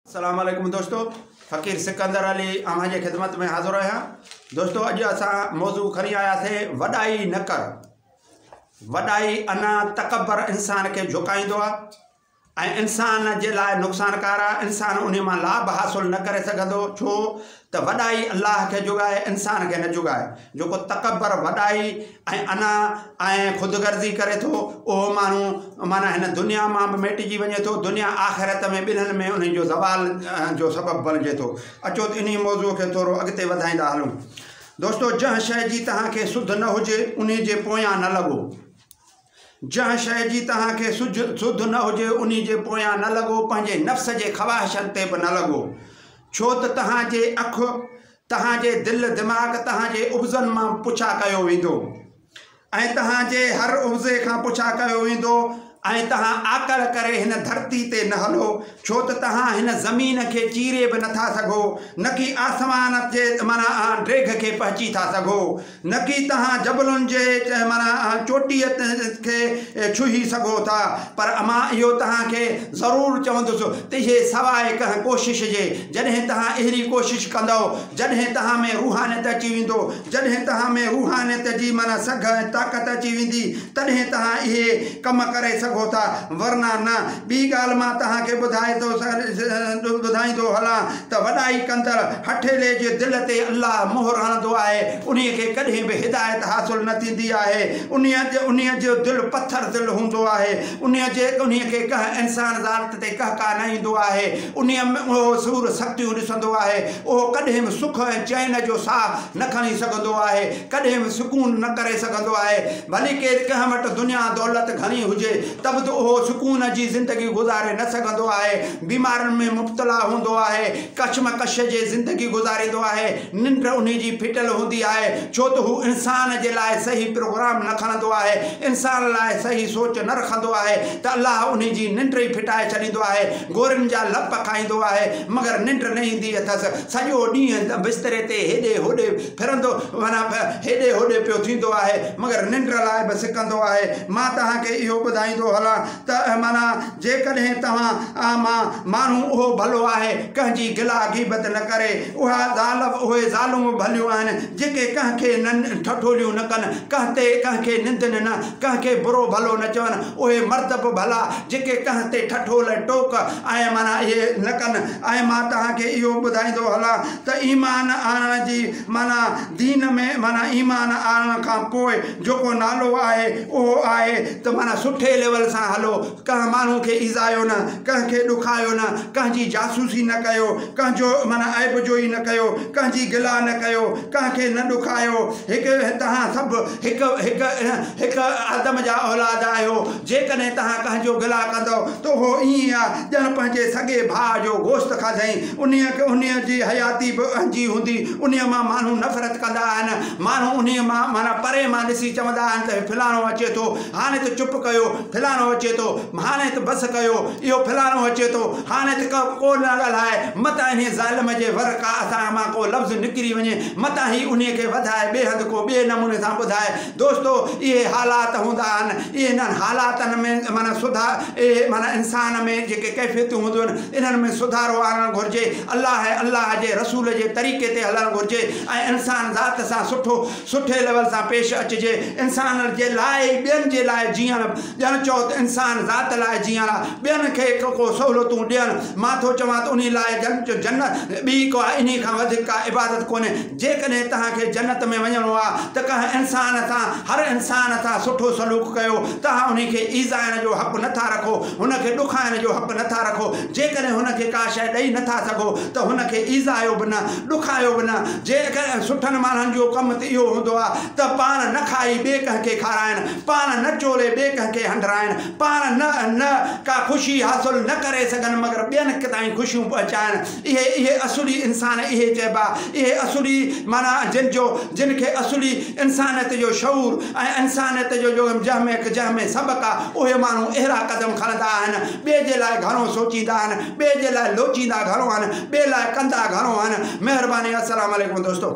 اسلام عليڪم دوستو فقير سڪندر علي اوهان جي خدمت ۾ حاضر آهيان دوستو اڄ اسان موضوع کڻي آيا سي وڏائي نه ڪر وڏائي انا تڪبر انسان کي جھڪائيندو آ انسان جي لاء نقصانڪار آ انسان انهي مان لاڀ حاصل نه ڪري سگھندو ڇو ته وڏائي الله کي جوڳائي انسان کي نه جوڳائي. جيڪو تڪبر، وڏائي ۽ انا ۽ خودغرضي ڪري ٿو، اهو ماڻهو معنيٰ هن دنيا مان به ميٽجي وڃي ٿو، دنيا آخرت ۾ ٻنهن ۾ انهي جو زوال جو سبب بڻجي ٿو. اچو ته انهي موضوع کي ٿورو اڳتي وڌائيندا هلون. دوستو! جنهن شيء جي توهان کي سڌ نه هجي، انهي جي پويان نه لڳو. جنهن شيء جي توهان کي سڌ نه هجي، انهي جي پويان نه لڳو، پنهنجي نفس جي خواهشن تي به نه لڳو، ڇو ته توهان جي اک، توهان جي دل دماغ، توهان جي عوضن مان پڇا ڪيو ويندو، ۽ توهان جي هر عوضي کان پڇا ڪيو ويندو، ۽ توهان عاقل ڪري هن ڌرتي تي نه هلو، ڇو ته توهان هن زمين کي چيري به نه ٿا سگهو، نڪي آسمان جي معنيٰ ڊيگهه کي پهچي ٿا سگهو. نڪي توهان جبلن جي چهمران چوٽيء کي ڇهي سگهو ٿا، پر مان اهو توهان کي ضرور چوندس ته اهي سواء ڪنهن ڪوشش جي، جڏهن توهان اهڙي ڪوشش ڪندؤ، جڏهن توهان ۾ روحانيت اچي ويندو، جڏهن توهان ۾ روحانيت جي معنيٰ سگهه ۽ طاقت اچي ويندي، تڏهن توهان اهي ڪم ڪري سگهو ٿا، ورنه نه. ٻي ڳالهه مان توهان کي ٻڌائيندو هلان. ته وڏائي ڪندڙ هٺيلي جي دل تي الله مهر هڻندو آهي، انهي کي ڪڏهن به هدايت حاصل نه ٿيندي آهي، انهي جو دل پٿر دل هوندو آهي، انهي کي ڪنهن انسان ذات تي ڪهڪاء نه ايندو آهي، انهي ۾ اهو سور سختيون ڏسندو آهي، اهو ڪڏهن به سک ۽ چين جو ساهه نه کڻي سگهندو آهي، ڪڏهن به سڪون نه ڪري سگهندو آهي، ڀلي ڪير ڪنهن وٽ دنيا دولت گهڻي هجي ته به اهو سڪون جي زندگي گذاري نه سگهندو آهي، بيمارين ۾ مبتلا هوندو آهي، ڪشمڪش جي زندگي گذاريندو آهي، ننڊ انهي جي ڦٽل هوندي آهي، ڇو ته هو انسان جي لاء صحيح پروگرام نه کڻندو آهي، انسان لاء صحيح سوچ نه رکندو آهي ته الله انهي جي ننڊ ئي ڦٽائي ڇڏيندو آهي، گورين جا لپ کائيندو آهي، مگر ننڊ نه ايندي اٿس، سڄو ڏينهن بستري تي هيڏي هوڏي ڦرندو معنيٰ هيڏي هوڏي پيو ٿيندو آهي، مگر ننڊ لاء به سڪندو آهي، مان توهان کي اهو ٻڌائيندو هلان ته معنيٰ. جيڪڏهن توهان، عام ماڻهو، اهو ڀلو آهي، ڪنهن جي گلا غيبت نه ڪري، اها ظالم، اهي ظالم ڀليون آهن، جيڪي ڪنهن کي نن ٺٺوليون نه ڪن، ڪنهن تي ڪنهن کي نندن نه، ڪنهن کي برو ڀلو نه چون، اهي مرد به ڀلا، جيڪي ڪنهن تي ٺٺول، ٽوڪ، ۽ معنيٰ اهي نه ڪن. ۽ مان توهان کي اهو ٻڌائيندو هلان ته ايمان آڻڻ جي معنيٰ، دين ۾، معنيٰ ايمان آڻڻ کان پوء، جو ڪو نالو آهي اهو آهي ته معنيٰ سٺي ليول سان هلو، ڪنهن ماڻهو کي ايذايو نه، ڪنهن کي ڏکايو نه، ڪنهن جي جاسوسي نه ڪيو، ڪنهن جو معنيٰ عيب جوئي نه ڪيو، ڪنهن جي گلا نه ڪيو، ڪنهن کي نه ڏکايو، هڪ توهان سڀ هڪ هڪ هڪ آدم جا اولاد آهيو، جيڪڏهن توهان ڪنهن جو گلا ڪندؤ ته اهو ائين آ ڄڻ پنهنجي سڳي ڀاء جو گوشت کاڌئين، انهيء جي حياتي به اهنجي هوندي، انهيء مان ماڻهو نفرت ڪندا آهن. ماڻهو انهيء مان، معنيٰ پري مان، ڏسي چوندا آهن ته فلاڻو اچي ٿو، هاڻي ته چپ ڪيو، فلاڻو اچي ٿو، هاڻي ته بس ڪيو، اهو فلاڻو اچي ٿو، هاڻي ته ڪه ڪو نه ڳالهاء، متان انهيء ظالم جي ور ڪا اٿاڻ مان ڪو لفظ نڪري وڃي، متان هي انهيء کي وڌائي ٻيهنڌ ڪو ٻئي نموني سان ٻڌائي. دوستو! اهي حالات هوندا آهن. انهن حالاتن ۾ معنيٰ سڌا، اهي معنيٰ انسان ۾ جيڪي ڪيفيتون هونديون آهن، انهن ۾ سڌارو آڻڻ گهرجي. الله ۽ الله جي رسول جي طريقي تي هلڻ گهرجي. ۽ انسان ذات سان سٺو سٺي ليول سان پيش اچجي انسان جي لاء ئي ٻين جي لاء جيئڻ ڄڻ چئو ته انسان ذات لاء جيئڻ آ ٻين کي ڪو ڪو سهولتون ڏيڻ مان ٿو چوان ته انهي لاء ڄڻ چئو جنت ٻي ڪا انهي کان وڌيڪ ڪا عبادت ڪونهي جيڪڏهن توهان کي جنت ۾ وڃڻو آ ته ڪنهن انسان سان هر انسان سان سٺو سلوڪ ڪيو توهان انهي کي ايذائڻ جو حق نٿا رکو هن کي ڏکائڻ جو حق نٿا رکو جيڪڏهن هن کي ڪا شئي ڏئي نٿا سگهو ته هن کي ايذايو به نه ڏکايو به نه، جيڪڏهن سٺن ماڻهن جو ڪم ته اهو هوندو آهي ته پاڻ نه کائي ٻئي ڪنهن کي کارائن، پاڻ نه چولي ٻئي ڪنهن کي هنڊرائن، پاڻ نه نه ڪا خوشي حاصل نه ڪري سگهن مگر ٻين تائين خوشيون پهچائن، اهي اهي اصولي انسان اهي چئبا، اهي اصولي معنيٰ جن جو جن کي اصولي انسانيت جو شعور ۽ انسانيت جو جو جنهن ۾ جنهن ۾ سبق آهي اهي ماڻهو اهڙا قدم کڻندا آهن ٻئي جي لاء گهڻو سوچيندا آهن، ٻئي جي لاء لوچيندا گهڻو آهن ٻئي لاء ڪندا گهڻو آهن مهرباني السلام عليڪم دوستو.